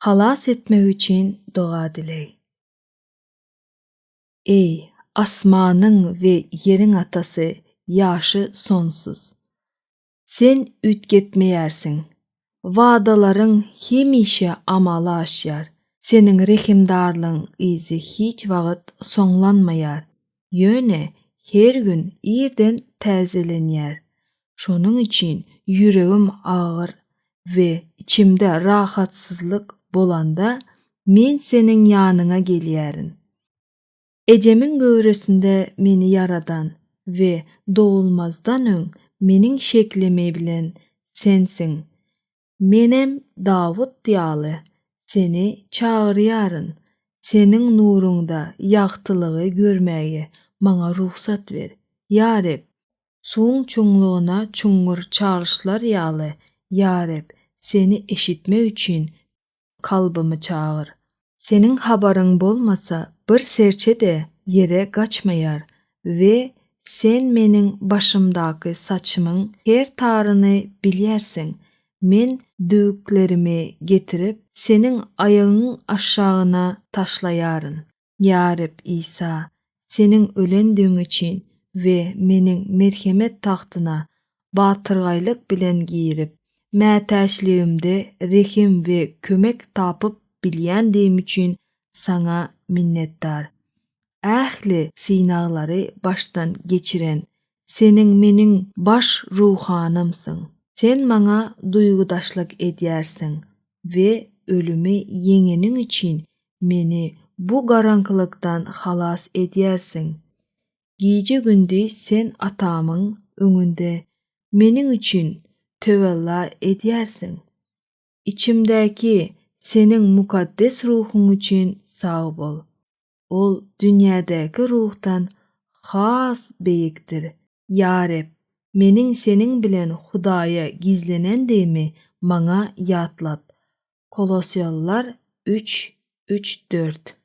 halas etmegi üçin doga dileý. Eý, asmanyň we ýeriň Atasy, ýaşy sonsuz! Sen üýtgetmeýärsiň. Wadalaryň hemişe amala aşýar. Seniň rehimdarlygyň yzy hiç wagt soňlanmaýar. ýöne her gün irden täzelenýär. Şonuň üçin ýüregim agyr we içimde rahatsyzlyk bolanda men seniň ýanyňa gelýärin. Ejemiň göwresinde meni ýaradan we dogulmazdan öň meniň şeklimi bilen sensiň. Menem Dawut ýaly seni çagyrýaryn, seniň nuruňda ýagtylygy görmäge maňa rugsat ber, ýa Reb! Suwuň çuňlugyna çuňňur çalyşlar ýaly, ýa Reb, seni eşitmek üçin kalbymy çagyr. Seniň habaryň bolmasa bir serçe-de ýere gaçmaýar we Sen meniň başymdaky saçymyň her taryny bilýärsiň. Men düwüklerimi getirip, Seniň aýagyňyň aşagyna taşlaýaryn. Ýa Reb Isa, Seniň ölendigiň üçin we Meniň merhemet tagtyna batyrgaýlyk bilen girip, mätäçligimde rehim we kömek tapyp bilýändigim üçin Saňa minnetdar. Ähli synaglary başdan geçiren Seniň meniň baş ruhanymsyň. Sen maňa duýgudaşlyk edýärsiň we ölümi ýeňeniň üçin meni bu garaňkylykdan halas edýärsiň. Gije-gündiz sen Atamyň öňünde meniň üçin töwella edýärsiň. Içimdäki Seniň mukaddes ruhuň üçin sag bol. Ol dünýädäki ruhdan has beýikdir. Ýa Reb, meniň Seniň bilen Hudaýa gizlenendigimi maňa ýatlat. Kolosýalylar üç, üç, dört.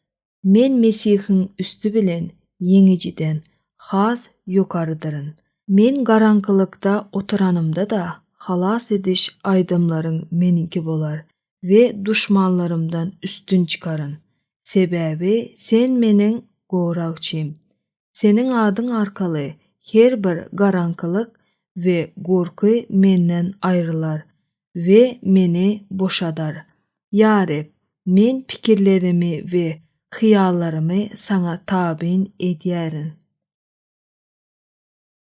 Men Mesihiň üsti bilen ýeňijiden has ýokarydyryn. Men garaňkylykda oturanymda-da, halas ediş aýdymlaryň meniňki bolar. we duşmanlarymdan üstün çykaryn, sebäbi Sen meniň goragçym. Seniň adyň arkaly her bir garaňkylyk we gorky menden aýrylar we meni boşadar. Ýa Reb, men pikirlerimi we hyýallarymy Saňa tabyn edýärin.